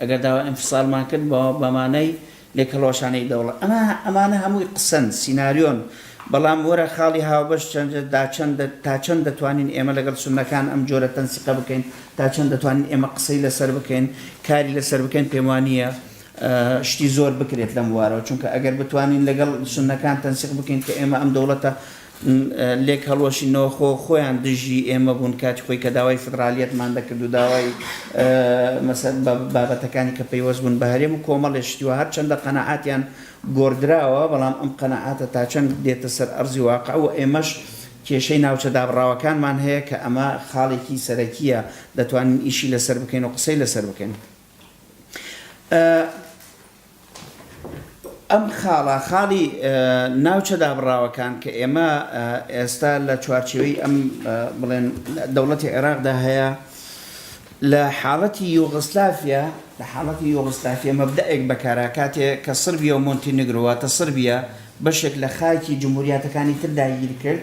ئەگەر داوای ئینفسالمان کرد بە بە مانای لێکهەڵوەشانەی دەوڵەت. ئەمە ئەمانە هەمووی قسەن، سیناریۆن. بەڵام وەرە خاڵی هاوبەش چەند تا چەند تا چەند دەتوانین ئێمە لەگەڵ سوننەکان ئەم جۆرە تەنسیقە بکەین؟ تا چەند دەتوانین ئێمە قسەی لەسەر بکەین، کاری لەسەر بکەین؟ پێم وا نییە شتی زۆر بکرێت لەم بوارەوە. چونکە ئەگەر بتوانین لەگەڵ سوننەکان تەنسیق بکەین کە ئێمە ئەم دەوڵەتە لێکهەڵوەشی نۆخۆ خۆیان دژی ئێمە بوون کاتی خۆی کە داوای فیدڕالیەتمان دەکرد و داوای مەسەل بە بابەتەکانی کە پەیوەست بوون بە هەرێم و کۆمەڵێ شتی و هەرچەندە قەناعاتیان گۆڕدراوە بەڵام ئەم قەناعاتە تا چەند دێتە سەر ئەرزی واقع و ئێمەش کێشەی ناوچە دابڕاوەکانمان هەیە کە ئەمە خاڵێکی سەرەکیە دەتوانین ئیشی لەسەر بکەین و قسەی لەسەر بکەین. ئەم خاڵە خاڵی ناوچە دابڕاوەکان کە ئێمە ئێستا لە چوارچێوەی ئەم بڵێن دەوڵەتی عێراقدا هەیە لە حاڵەتی یۆغسلافیا لە حاڵەتی یۆغسلافیا مەبدەئێک بەکارا کاتێ کە سربیا و مۆنتی نگرۆواتە سربیا بەشێک لە خاکی جمهوریاتەکانی تر داگیر کرد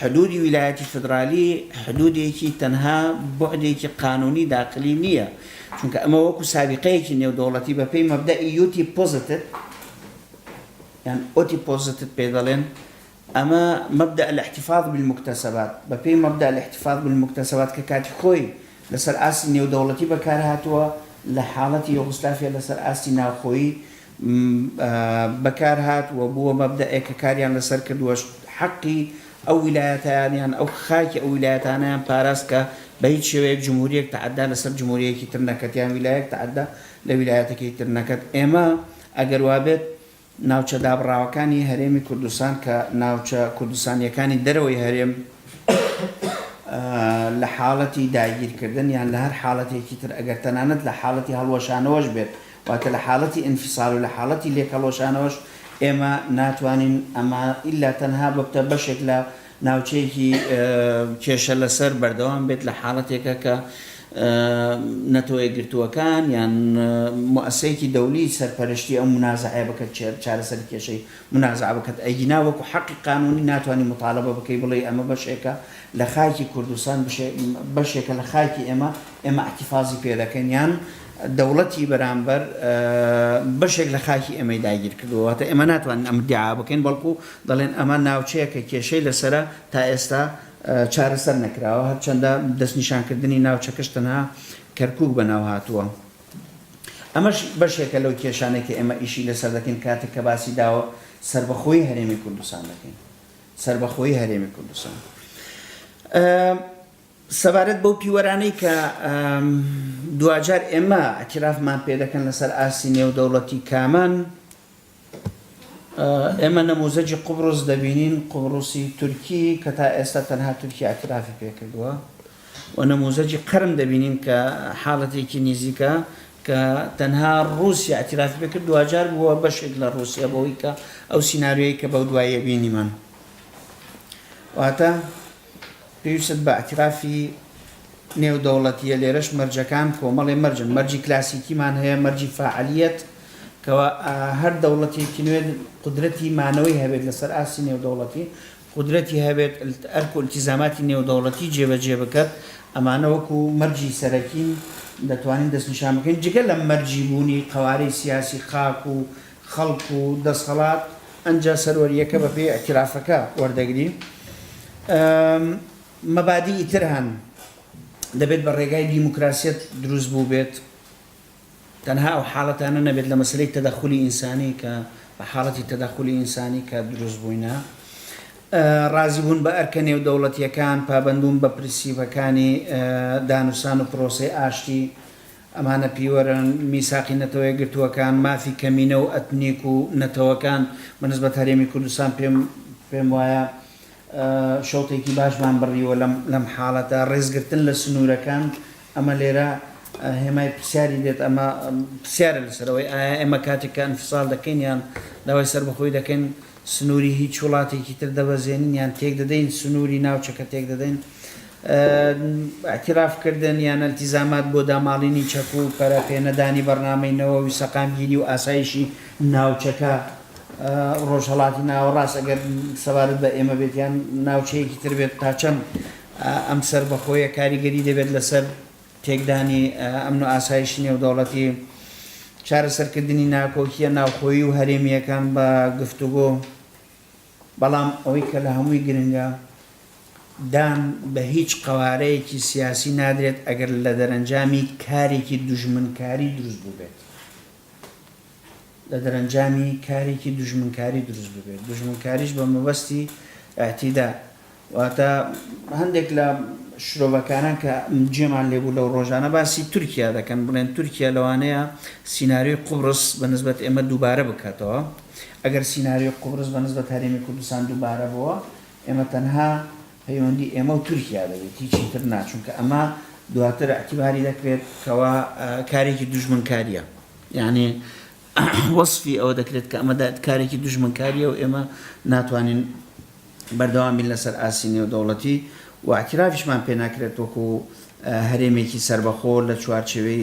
حدوودی ویلایەتی فیدرالی حدوودێکی تەنها بوعدێکی قانوونی داخلی نییە، چونکە ئەمە وەکو سابیقەیەکی نێودەوڵەتی بەپێی مەبدەئی یوتی پۆزتت یان ئۆتی پۆزتت پێ دەڵێن، ئەمە مەبدەء الاحتفاظ بالمکتسبات، بەپێی مەبدەء الاحتفاظ بالمکتسبات کە کاتی خۆی لەسەر ئاستی نێودەوڵەتی بەکارهاتووە لە حاڵەتی یۆغسلافیا لەسەر ئاستی ناوخۆیی بەکارهات و بووە مەبدەئێک کە کاریان لەسەر کردووە، حەقی ئەو ویلایەتەیان یان ئەو خاکی ئەو ویلایەتانەیان پاراست کە بە هیچ شێوەیەک جمهورییەک تەعەدا لەسەر جمهورییەکی تر نەکەت یان ویلایەک تەعەدا لە ویلایەتەکەی تر نەکەت. ئێمە ئەگەر وا بێت ناوچە دابڕاوەکانی هەرێمی کوردستان کە ناوچە کوردستانییەکانی دەرەوەی هەرێم لە حاڵەتی داگیرکردن یان لە هەر حاڵەتێکی تر ئەگەر تەنانەت لە حاڵەتی هەڵوەشانەوەش بێت، واتە لە حاڵەتی ئینفیسال و لە حاڵەتی لێکهەڵوەشانەوەش ئێمە ناتوانین ئەمە ئیلا تەنها ببتە بەشێک لە ناوچەیەکی کێشە لەسەر بەردەوام بێت لە حاڵەتێکە کە نەتەوەیەکگرتووەکان یان موئەسەیەکی دەولی سەرپەرشتی ئەو منازعەیە بکەت چێر چارەسەری کێشەی منازعە بکەت ئەگینا وەکو حەقی قانونی ناتوانانی مطالبە بکەی بڵێی ئەمە بەشێکە لە خاکی کوردستان بشێ بەشێکە لە خاکی ئێمە ئێمە ئیحتیفازی پێ دەکەین یان دەوڵەتی بەرامبەر بەشێک لە خاکی ئێمەی داگیر کردووە، واتە ئێمە ناتوانین ئەم ئیدیعا بکەین، بەڵکو دەڵێن ئەمە ناوچەیە کە کێشەی لەسەرە تا ئێستا چارەسەر نەکراوە، هەرچەندە دەستنیشانکردنی ناوچەکەش تەنها کەرکوک بەناو هاتووە. ئەمەش بەشێکە لەو کێشانەی کە ئێمە ئیشی لەسەر دەکەین کاتێک کە باسی داوە سەربەخۆیی هەرێمی کوردستان دەکەین. سەربەخۆیی هەرێمی کوردستان. سەبارەت بەو پیوەرانەی کە دواجار ئێمە ئەتیرافمان پێ دەکەن لەسەر ئاستی نێودەوڵەتی کامان، ئێمە نەموزەجی قوبڕس دەبینین، قوبڕسی تورکی کە تا ئێستا تەنها تورکیا ئەتیرافی پێ کردووە و نەموزەجی قەرم دەبینین کە حاڵەتێکی نیزیکە کە تەنها ڕووسیا ئەتیرافی پێ کرد، دواجار بووە بەشێک لە ڕووسیا بەوەی کە ئەو سیناریۆیەی کە بەو دواییە بینیمان. واتە. پێویستت بە ئیعتیرافی نێودەوڵەتییە، لێرەش مەرجەکان کۆمەڵێ مەرجن، مەرجی کلاسیکیمان هەیە، مەرجی فاعلییەت، کەوا هەر دەوڵەتێکی نوێ قودرەتی مانەوەی هەبێت لەسەر ئاستی نێودەوڵەتی، قودرەتی هەبێت ئەرک و ئیلتیزاماتی نێودەوڵەتی جێبەجێ بکات، ئەمانە وەکو مەرجی سەرەکین دەتوانین دەستنیشان بکەین، جگە لە مەرجی بوونی قەوارەی سیاسی خاک و خەڵک و دەسهەڵات ئەنجە سەروەریەکە بە پێی ئیعتیرافەکە وەردەگری. مەبادیئی تر هەن دەبێت بە ڕێگای دیموکراسیەت دروست بووبێت تەنها ئەو حاڵەتانە نەبێت لە مەسەلەی تەدەخولی ئینسانی کە بە حاڵەتی تەدەخولی ئینسانی کە دروست بووینە. ڕازی بوون بە ئەرکە نێودەوڵەتیەکان، پابەندبوون بە پرسیپەکانی دانوسان و پرۆسەی ئاشتی، ئەمانە پیوەرن، میساقی نەتەوەیەکگرتووەکان، مافی کەمینە و ئەتنیک و نەتەوەکان بە نسبەت هەرێمی کوردستان پێم پێم وایە شەوتێکی باشمان بڕیوە لەم لەم حاڵەتە، ڕێزگرتن لە سنوورەکان ئەمە لێرە هێمای پرسیاری دێت، ئەمە پرسیارە لەسەر ئەوەی ئایا ئێمە کاتێک کە ئەنفسال دەکەین یان داوای سەربەخۆیی دەکەین، سنوری هیچ وڵاتێکی تر دەبەزێنین یان تێک دەدەین سنوری ناوچەکە تێک دەدەین اعتراف کردن یان التیزامات بۆ داماڵینی چەک و پەرە پێ نەدانی بەرنامەی نەوەوی سەقامگیری و ئاسایشی ناوچەکە ڕۆژهەڵاتی ناوەڕاست ئەگەر سەبارەت بە ئێمە بێت یان ناوچەیەکی تر بێت تاچەند ئەم سەربەخۆیە کاریگەری دەبێت لەسەر تێکدانی ئەمن و ئاسایشی نێودەوڵەتی، چارەسەرکردنی ناکۆکییە ناوخۆیی و هەرێمییەکان بە گفتوگۆ، بەڵام ئەوەی کە لە هەمووی گرنگە، دان بە هیچ قەوارەیەکی سیاسی نادرێت ئەگەر لە دەرەنجامی کارێکی دوژمنکاری دروست بووبێت. لە دەرەنجامی کارێکی دوژمنکاری دروست ببێت، دوژمنکاریش بە مەبەستی ئیعتیدا، واتە هەندێک لە شرۆڤەکاران کە جێمان لێ بوو لەو ڕۆژانە باسی تورکیا دەکەن، بڵێن تورکیا لەوانەیە سیناریۆی قوبرس بە نسبەت ئێمە دووبارە بکاتەوە، ئەگەر سیناریۆی قوبرس بە نسبەت هەرێمی کوردستان دووبارە بووە، ئێمە تەنها پەیوەندی ئێمە و تورکیا دەبێت هیچی تر نا چونکە ئەمە دواتر اعتباری دەکرێت کەوا کارێکی دوژمنکاریە یعنی وەصفی ئەوە دەکرێت کە ئەمە کارێکی دوژمنکاریە و ئێمە ناتوانین بەردەوامین لەسەر ئاستی نێودەوڵەتی و اعترافیشمان پێ ناکرێت وەکو هەرێمێکی سربەخۆ لە چوارچێوەی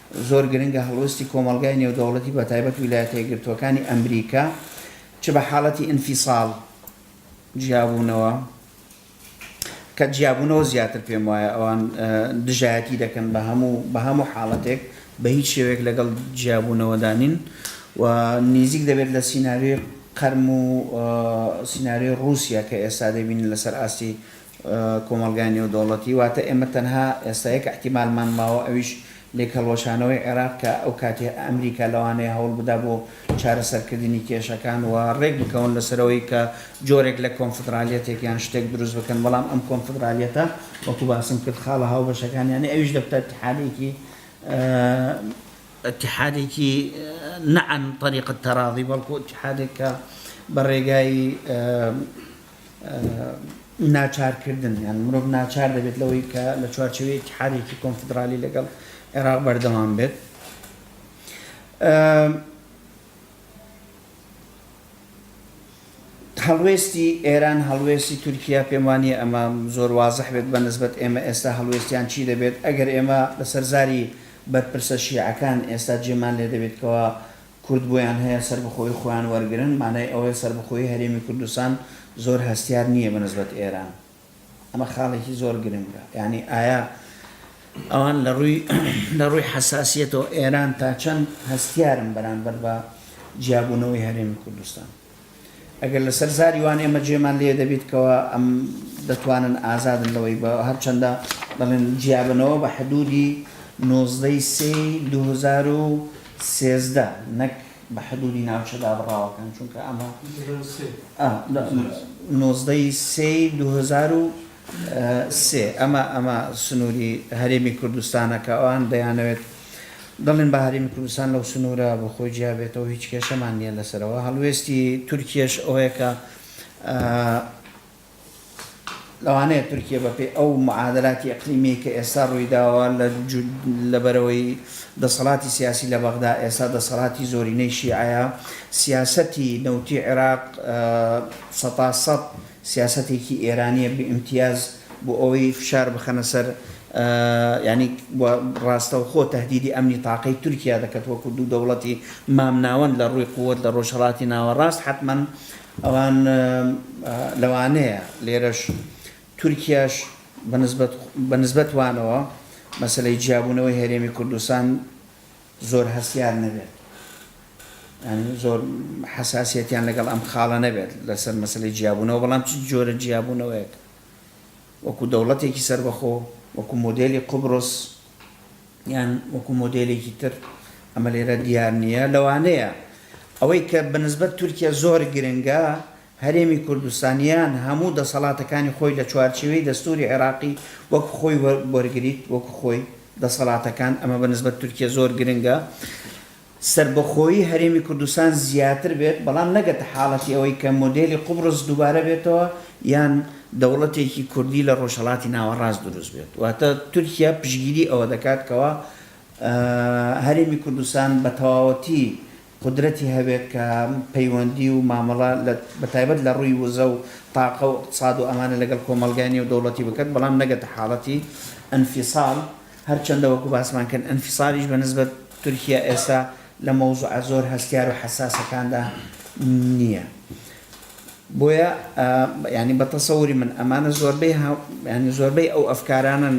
زۆر گرنگە هەڵوێستی کۆمەڵگای نێودەوڵەتی بە تایبەت ویلایەتە یەکگرتووەکانی ئەمریکا چ بە حاڵەتی ئینفیساڵ، جیابوونەوە، کە جیابوونەوە زیاتر پێم وایە ئەوان دژایەتی دەکەن بە هەموو بە هەموو حاڵەتێک بە هیچ شێوەیەک لەگەڵ جیابوونەوەدا نین و نیزیک دەبێت لە سیناریۆی قەرم و سیناریۆی ڕووسیا کە ئێستا دەبینین لەسەر ئاستی کۆمەڵگای نێودەوڵەتی، واتە ئێمە تەنها ئێستا یەک ئیحتیمالمان ماوە ئەویش لێکهەڵوەشانەوەی عێراق کە ئەو کاتی ئەمریکا لەوانەیە هەوڵبدا بۆ چارەسەرکردنی کێشەکان و ڕێکبکەون لەسەر ئەوەی کە جۆرێک لە کۆنفدرالیەتێک یان شتێک دروست بکەن بەڵام ئەم کۆنفدرالیەتە وەکو باسم کرد خاڵە هاوبەشەکان یانی ئەویش دەبتە ئیتحادێکی ئیتحادێکی نە عەن طەریق التەڕاضی بەڵکو ئیتحادێک کە بە ڕێگای ناچارکردن، یان مرۆڤ ناچار دەبێت لەوەی کە لە چوارچێوەی ئیتحادێکی کۆنفیدرالی لەگەڵ عێراق بەردەوام بێت. هەڵوێستی ئێران هەڵوێستی تورکیا پێم وانە ئەمە زۆر وازح بێت بە نسبت ئێمە ئێستا هەڵوێستیان چی دەبێت ئەگەر ئێمە لەسەر زاری بەرپرسە شیعەکان ئێستا جێمان لێ دەبێتکەوە کورد بۆیان هەیە سەربەخۆیی خۆیان وەرگرن مانای ئەوەیە سەربەخۆیی هەرێمی کوردستان زۆر هەستیار نییە بە نسبەت ئێران ئەمە خاڵێکی زۆر گرنگە یانی ئایا ئەوان لە ڕووی لە ڕووی حەساسیەتەوە ئێران تا چەند هەستیارن بەرامبەر بە جیابوونەوەی هەرێمی کوردستان. ئەگەر لەسەر زاری وان ئێمە جێمان لێ دەبیت کەوا ئەم دەتوانن ئازادن لەوەی بە هەرچەندە دەڵێن جیابنەوە بە حدودی نۆزدە ی سێ ی دوو هەزار و سێزدە نەک بە حدودی ناوچە دابڕاوەکان چونکە ئەمە نۆزدە ی سێ ی دوو هەزار و سێ، ئەمە ئەمە سنووری هەرێمی کوردستانە کە ئەوان دەیانەوێت دەڵێن با هەرێمی کوردستان لەو سنوورە بۆ خۆی جیا بێتەوە، هیچ کێشەمان نییە لەسەرەوە. هەڵوێستی تورکیەش ئەوەیە کە لەوانەیە تورکیە بەپێی ئەو معادلاتی ئیقلیمییەی کە ئێستا ڕووی داوە لە لەبەرەوەی دەسەڵاتی سیاسی لە بەغدا ئێستا دەسەڵاتی زۆرینەی شیعەیە، سیاسەتی نەوتی عێراق سەتاسەت سیاسەتێکی ئێرانیە بی ئیمتیاز بۆ ئەوەی فشار بخەنە سەر یانی و ڕاستەوخۆ تەهدیدی ئەمنی تاقەی تورکیا دەکەت وەکو دوو دەوڵەتی مامناوەند لە ڕووی قوت لە ڕۆژهەڵاتی ناوەڕاست حەتمەن ئەوان لەوانەیە لێرەش تورکیاش بە نسبەت بە نسبەت وانەوە مەسەلەی جیابوونەوەی هەرێمی کوردستان زۆر هەستیار نەبێت یانی زۆر حەساسیەتیان لەگەڵ ئەم خاڵە نەبێت لەسەر مەسەلەی جیابوونەوە بەڵام چ جۆرە جیابوونەوەیەک وەکو دەوڵەتێکی سەربەخۆ وەکو مۆدێلی قوبرس یان وەکو مۆدێلێکی تر ئەمە لێرە دیار نییە لەوانەیە ئەوەی کە بەنسبەت تورکیا زۆر گرنگە هەرێمی کوردستان یان هەموو دەسەڵاتەکانی خۆی لە چوارچێوەی دەستووری عێراقی وەک خۆی وەرگریت، وەک خۆی، دەسەڵاتەکان، ئەمە بە نسبەت تورکیە زۆر گرنگە، سەربەخۆیی هەرێمی کوردستان زیاتر بێت، بەڵام نەگەتە حاڵەتی ئەوەی کە مۆدێلی قوبڕس دووبارە بێتەوە یان دەوڵەتێکی کوردی لە ڕۆژهەڵاتی ناوەڕاست دروست بێت. واتە تورکیە پشتگیری ئەوە دەکات کەوا هەرێمی کوردستان بە تەواوەتی قودرەتی هەبێت کە پەیوەندی و مامەڵە لە بەتایبەت لە ڕووی وزە و تاقە و ئیقتساد و ئەمانە لەگەڵ کۆمەڵگای نێودەوڵەتی بکەت بەڵام نەگەتە حاڵەتی ئەنفیساڵ هەرچەندە وەکو باسمان کرد ئەنفیساڵیش بە نسبەت تورکیا ئێستا لە مەوزوعە زۆر هەستیار و حەساسەکاندا نییە بۆیە یعنی بە تەسەوری من ئەمانە زۆربەی یعنی زۆربەی ئەو ئەفکارانن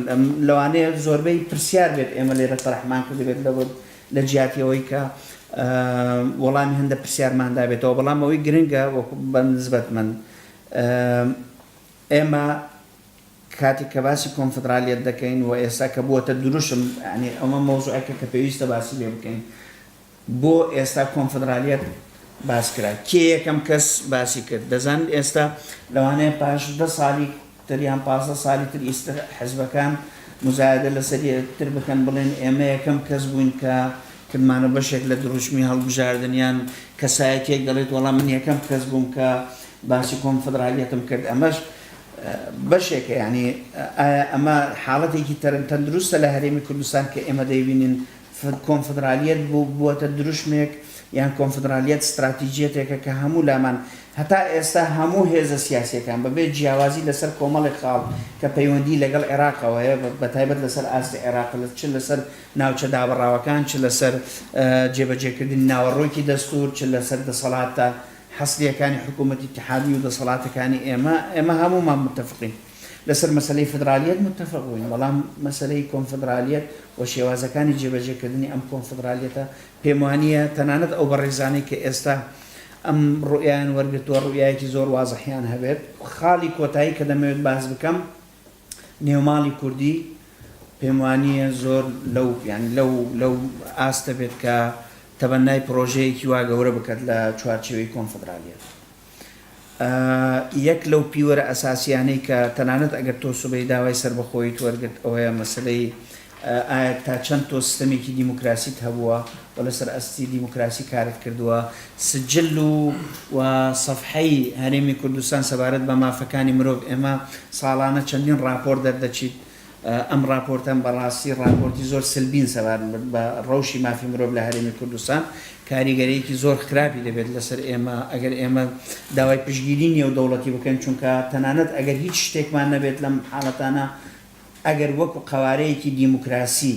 لەوانەیە زۆربەی پرسیار بێت ئێمە لێرە تەرحمان کردبێت لە لە جیاتی ئەوەی کە وەڵامی هەندێک پرسیارمان دابێتەوە، بەڵام ئەوەی گرنگە وەکو بە نسبەت من، ئێمە کاتێک کە باسی کۆنفدرالیەت دەکەین و ئێستا کە بووەتە دروشم، یانی ئەمە مەوزوعێکە کە پێویستە باسی لێ بکەین، بۆ ئێستا کۆنفدرالیەت باس کرا؟ کێ یەکەم کەس باسی کرد؟ دەزانن ئێستا لەوانەیە پاش دە ساڵی، تەنیا پازدە ساڵی تر ئیستر حزبەکان موزایەدە لەسەر یەکتر بکەن بڵێن ئێمە یەکەم کەس بووین کە کردمانە بەشێک لە دروشمی هەڵبژاردن یان کەسایەتیەک دەڵێت وەڵا من یەکەم کەس بووم کە باسی کۆنفدرالیەتم کرد ئەمەش بەشێکە یعنی ئایا ئەمە حاڵەتێکی تەرن تەندروستە لە هەرێمی کوردستان کە ئێمە دەیبینین کۆنفدرالیەت بووەتە دروشمێک یان کۆنفدرالیەت ستراتیجیەتێکە کە هەموو لامان هەتا ئێستا هەموو هێزە سیاسیەکان بەبێ جیاوازی لەسەر کۆمەڵێک خاڵ کە پەیوەندی لەگەڵ عێراقەوەیە بەتایبەت لەسەر ئاستی عێراق چ لەسەر ناوچە دابڕاوەکان چ لەسەر جێبەجێکردنی ناوەڕۆکی دەستور چ لەسەر دەسەڵاتە حەسریەکانی حکومەتی ئیتحادی و دەسەڵاتەکانی ئێمە ئێمە هەموومان متەفقین لەسەر مەسەلەی فیدرالییەت موتەفق بووین، بەڵام مەسەلەی کۆنفیدرالییەت و شێوازەکانی جێبەجێکردنی ئەم کۆنفیدرالییەتە پێموانییە تەنانەت ئەو بەڕێزانەی کە ئێستا ئەم ڕوئیایان وەرگرتووە ڕوئیایەکی زۆر وازحیان هەبێت. خاڵی کۆتایی کە دەمەوێت باس بکەم نێوماڵی کوردی پێموانییە زۆر لەو یانی لەو لەو ئاستە بێت کە تەبەنای پڕۆژەیەکی وا گەورە بکات لە چوارچێوەی کۆنفیدرالییەت. یەک لەو پیوەرە ئەساسیانەی کە تەنانەت ئەگەر تۆ سبەی داوای سەربەخۆییت وەرگرت ئەوەیە مەسەلەی ئایا تا چەند تۆ سستەمێکی دیموکراسیت هەبووە و لەسەر ئەستی دیموکراسی کارت کردووە سجل و و سەفحەی هەرێمی کوردستان سەبارەت بە مافەکانی مرۆڤ ئێمە ساڵانە چەندین ڕاپۆرت دەردەچیت ئەم ڕاپۆرتەم بە ڕاستی ڕاپۆرتی زۆر سلبین سەبارمبت بە ڕەوشی مافی مرۆڤ لە هەرێمی کوردستان کاریگەریەکی زۆر خراپی دەبێت لەسەر ئێمە ئەگەر ئێمە داوای پشگیری نێودەوڵەتی بکەین چونکە تەنانەت ئەگەر هیچ شتێکمان نەبێت لەم حالەتانە ئەگەر وەکو قەوارەیەکی دیموکراسی